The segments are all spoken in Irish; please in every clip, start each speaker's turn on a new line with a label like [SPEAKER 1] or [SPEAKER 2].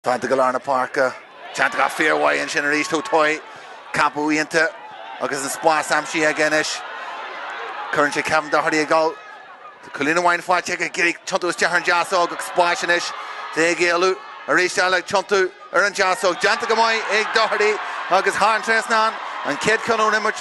[SPEAKER 1] Táinte go lár na páirce. Déanta go fíormhaith ansin arís ó Toye, campa iontach agus an spás aimsithe aige anois. Cuireann sé Kevin Doherty ag dul. Tá cúilín amháin faighte aige, Gilly, tiontú isteach ar an deasóg agus spás anois dó ag éalú arís eile, tiontú ar an deasóg. Déanta go maith ag Doherty agus thar an trasnán an chéad cheann ón imirt.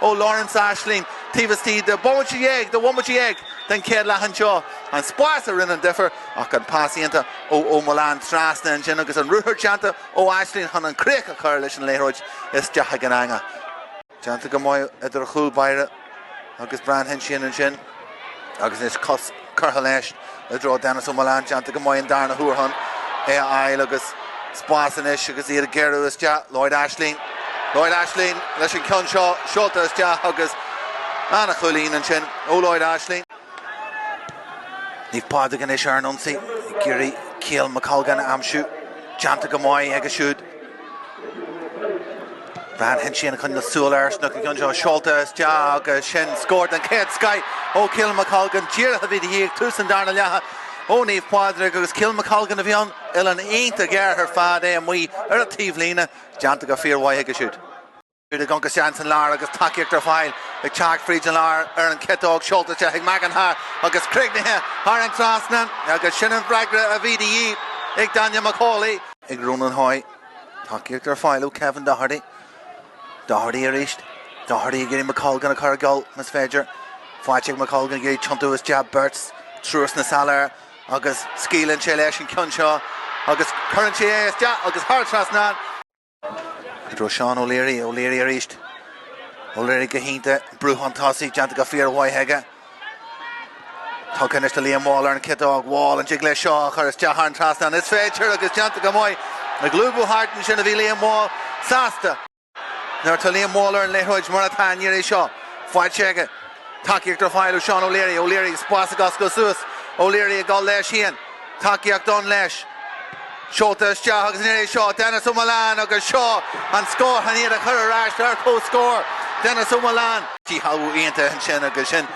[SPEAKER 1] ó Lawrence Aisling taobh istigh de bhomaite dhéag, de bhomaite dhéag den chéad leath anseo. An spás a rinne an difear ach an pas iontach ó O'Mullane trasna ansin agus an ruathar déanta ó Aisling chun an críoch a chur leis an liathróid isteach ag an eangach. Déanta go maith idir chúl báire agus Brian Hinchion ansin. Agus anois cos curtha leis i dtreo Denis O'Mullane, déanta go maith an darna huair chun é a fháil agus spás anois agus iad ag gearradh isteach. Lloyd Aisling, Lloyd Aisling leis an ceann seo, seolta isteach agus an-chúilín ansin ó Lloyd Aisling. Naomh Pádraig anois ar an ionsaí ag iarraidh Caolan McColgan a aimsiú, déanta go maith aige siúd. Brian Hinchion ag coinneáil súil air ansin ach an ceann seo seolta isteach agus sin scór den chéad scoth ó Caolan McColgan. Díreach a bhí de dhíth ag tús an darna leatha ó Naomh Pádraig agus Caolan McColgan a bhí ann, uillinn iontach ghéar ar fad é amuigh ar an taobhlíne, déanta go fíormhaith aige siúd. Chuaigh Aonghus Jean san lár agus tacaíocht ar fáil ag teacht fríd an lár ar an chiotóg seolta isteach ag McIntyre agus críochnaithe thar an trasnán agus sin an freagra a bhí de dhíth. Ag Daniel McCauley. Ag Ronan Hoy, tacaíocht ar fáil ó Kevin Doherty. Doherty arís. Doherty ag iarraidh McColgan a chur ag gabháil más féidir. Faighte ag McColgan ag iarraidh tiontú isteach beirt triúr sna sála air agus scaoileann sé leis an ceann seo agus cuireann sé é isteach agus thar an trasnán. I dtreo Seán O'Leary, O'Leary arís. O'Leary go hiontach, brú chun tosaigh déanta go fíormhaith aige. Tugtha anois do Liam Wall ar an ciotóg. Wall an dtig leis seo a chur isteach thar an trasnán is féidir agus déanta go maith. Ag lúbadh thart ansin a bhí Liam Wall, sásta. Nuair atá Liam Wall ar an liathróid mar atá an iarraidh seo, faighte aige. Tacaíocht ar fáil ó Seán O'Leary. O'Leary, spás ag oscailt suas. O'Leary ag dul leis féin. Tacaíocht ann leis. Seolta isteach agus an iarraidh seo Denis O'Mullane agus seo an scór chun iad a chur ar ais ar comhscór. Denis O'Mullane. Díshealbhú iontach ansin agus sin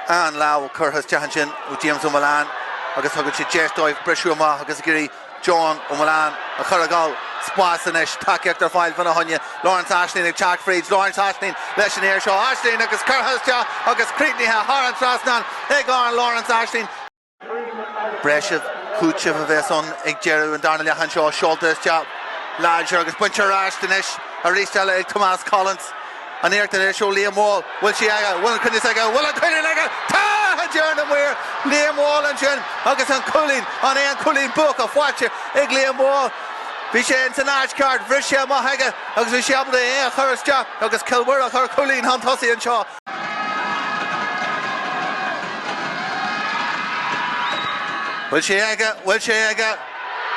[SPEAKER 1] an lámh curtha isteach ansin ó James O'Mullane agus thugann sé deis dóibh briseadh amach agus ag iarraidh John O'Mullane a chur ag gabháil, spás anois. Tacaíocht ar fáil fan na hUaithne. Lawrence Aisling ag teacht fríd. Lawrence Aisling leis an iarraidh seo. Aisling agus curtha isteach agus críochnaithe thar an trasnán ag Lawrence Aisling. breise, cúiteamh a bheas ann ag deireadh an darna leath anseo, seolta isteach láidir agus bainte ar ais anois aríst eile ag Tomás Collins. An iarracht anois ó Liam Wall, bhfuil sé aige, bhfuil an cruinneas aige, bhfuil an cruinneas aige, tá! a deir na maoir. Liam Wall ansin agus an cúilín, an é an cúilín buach faighte ag Liam Wall. Bhí sé ins an áit cheart, bhris sé amach aige agus bhí sé ábalta é a chur isteach agus Cill Mhuire a chur cúilín chun tosaigh anseo. Bhfuil sé aige? Bhfuil sé aige?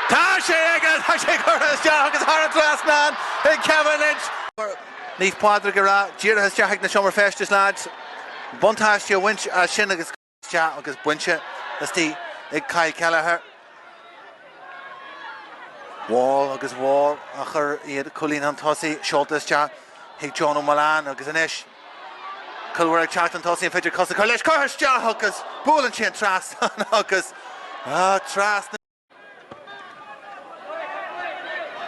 [SPEAKER 1] Tá sé aige! Tá sé curtha isteach agus thar an trasnán ag Kevin Lynch. Naomh Pádraig ag rá díreach isteach chuig na seomra feistis, leaids. Buntáiste a bhaint as sin agus. Isteach agus bainte aríst ag Kyle Kelleher. Wall agus Wall a chuir iad cúilín chun tosaigh, seolta isteach chuig Joe Mullane agus anois Cill Mhuire ag teacht chun tosaigh, an féidir cos a chur leis? Curtha isteach agus buaileann sé an trasnán agus trasna.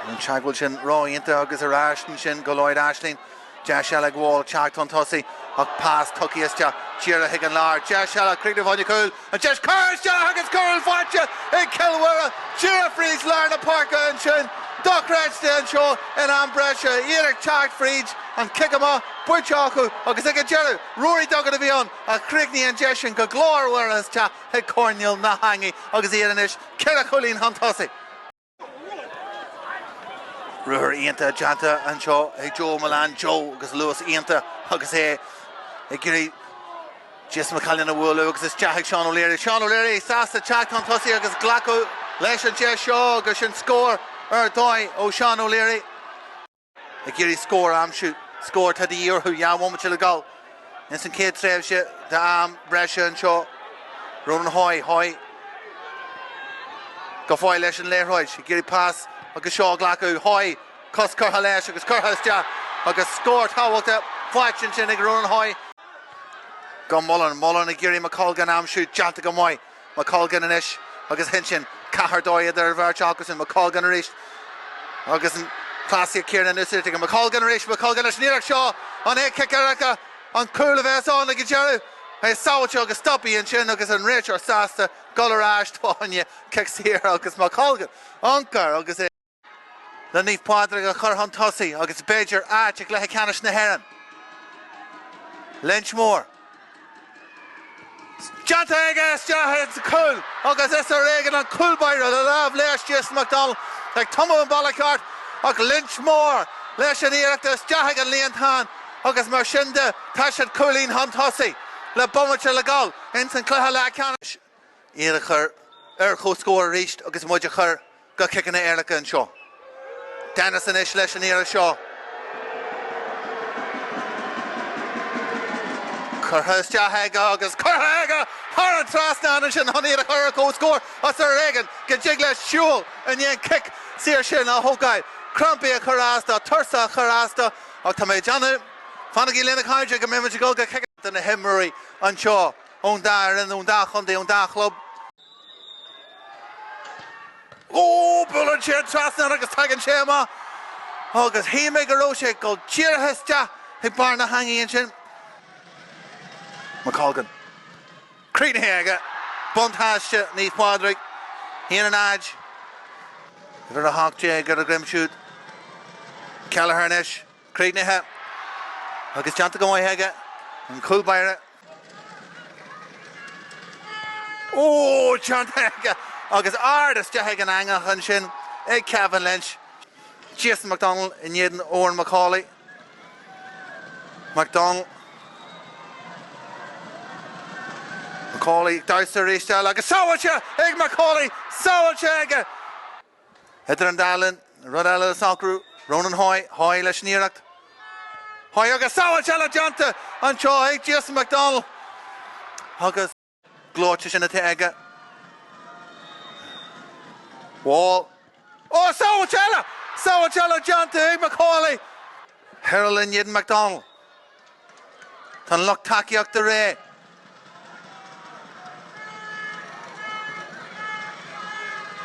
[SPEAKER 1] An teagmháil sin a dhéanamh agus ar ais ansin go Lloyd Aisling. Deis eile ag Wall teacht chun tosaigh ach pas tugtha isteach díreach chuig an lár. Deis eile, críochnú fá choinne cúil, an deis curtha isteach agus cúl faighte ag Cill Mhuire díreach fríd lár na páirce ansin. Dochreidte anseo in am breise, iad ag teacht fríd, an cic amach bainte acu agus ag an deireadh, Ruairí Duggan a bhí ann a chríochnaigh an deis sin go glórmhar isteach. chuig coirnéal na heangaí agus iad anois ceithre chúilín chun tosaigh. Ruathar iontach déanta anseo ag Joe Mullane, Joe agus luas iontach agus é ag iarraidh Jess McCallion a bhualadh agus isteach chuig Seán O'Leary. Seán O'Leary sásta teacht chun tosaigh agus glacadh leis an deis seo agus sin scór ar dhóigh ó Sheán O'Leary. ag iarraidh scór a aimsiú, scór atá de dhíth orthu dhá bhomaite le dul ins an chéad tréimhse d'am breise anseo. Ronan Hoy, Hoy go fóill leis an liathróid, ag iarraidh pas agus seo a ghlacadh. Hoy, cos curtha leis agus curtha isteach agus scór tábhachtach faighte ansin ag Ronan Hoy. Go Mullen, Mullen ag iarraidh McColgan a aimsiú, déanta go maith. McColgan anois agus Lynch. Ceathair dó idir an bheirt acusan. McColgan arís agus an chleasaíocht chéanna in úsáid aige. McColgan arís. McColgan leis an iarracht seo. An é cic éirice nó cúl a bheas ann ag an deireadh? É sábháilte agus stoptha ansin agus an réiteoir sásta dul ar ais fá choinne cic saor agus McColgan ag iompar agus é le Naomh Pádraig a chur chun tosaigh agus b'fhéidir áit i gcluiche ceannais na hÉireann. Lynch Moore. Déanta aige isteach ins an chúl agus is ar éigean an cúlbáire le lámh leis Jason McDonald ag tumadh an bealach ceart ach Lynch Moore leis an iarracht isteach chuig an líontán agus mar sin de tá siad cúilín chun tosaigh le bomaite le dhul ins an chluiche leathcheannais. iad a chur ar comhscór arís agus muid a chur go ciceanna éirice anseo. Denis anois leis an iarracht seo. Curtha isteach aige agus curtha aige thar an trasnán ansin chun iad a chur ar comhscór is ar éigean go dtig leis siúl i ndiaidh an cic saor sin a thógáil. Crampaí ag cur as dó, tuirse ag cur as dó ach tá mé ag déanamh, fanaigí linn a chairde, go mbeidh muid ag dul go ciceanna do na himreoirí anseo. ón dá fhoireann, ón dá chontae, ón dá chlub. Ó! Buaileann sé an trasnán agus tagann sé amach agus shíl mé go raibh sé ag dul díreach isteach chuig barr na heangaí ansin. McColgan. Críochnaithe aige. Buntáiste Naomh Pádraig. 1-0. Uimhir 18 ar a dhroim siúd. Kelleher anois. críochnaithe agus déanta go maith aige, an cúl báire. Óóó déanta aige agus ard isteach ag an eangach ansin ag Kevin Lynch. Jason McDonnell in éadan Oran McCauley. McDonnell. McCauley damhsa arís eile agus sábháilte ag McCauley! Sábháilte aige! Idir an dá linn, rud eile le socrú. Ronan Hoy, Hoy leis an iarracht. Hoy agus sábháilt eile déanta anseo ag Jason McDonnell agus gleoite sin atá aige. Wall. Ó, sábháilt eile! Sábháilt eile déanta ag McCauley. Hirrell in éadan McDonnell. Tá an lucht tacaíochta réidh.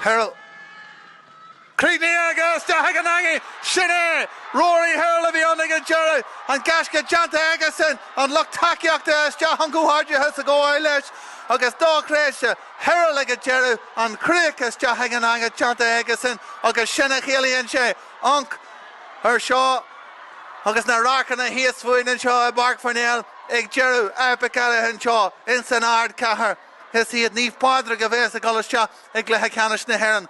[SPEAKER 1] Hirrell. Críochnaithe aige isteach ag an eangaigh. Sin é! Rory Hirrell a bhí ann ag an deireadh. An gaisce déanta aigesan, an lucht tacaíochta isteach chun comhghairdeachas a ghabháil leis agus dá thréimhse Hirrell ag an deireadh, an chríoch isteach ag an eangaigh déanta aigesan agus sin a chiallaíonn sé. Anc, ar seo agus na radharcanna thíos fúinn anseo i bPáirc Pharnell ag deireadh epic eile anseo ins an Ardchathair, is iad Naomh Pádraig a bheas ag dul isteach i gcluiche ceannais na hÉireann,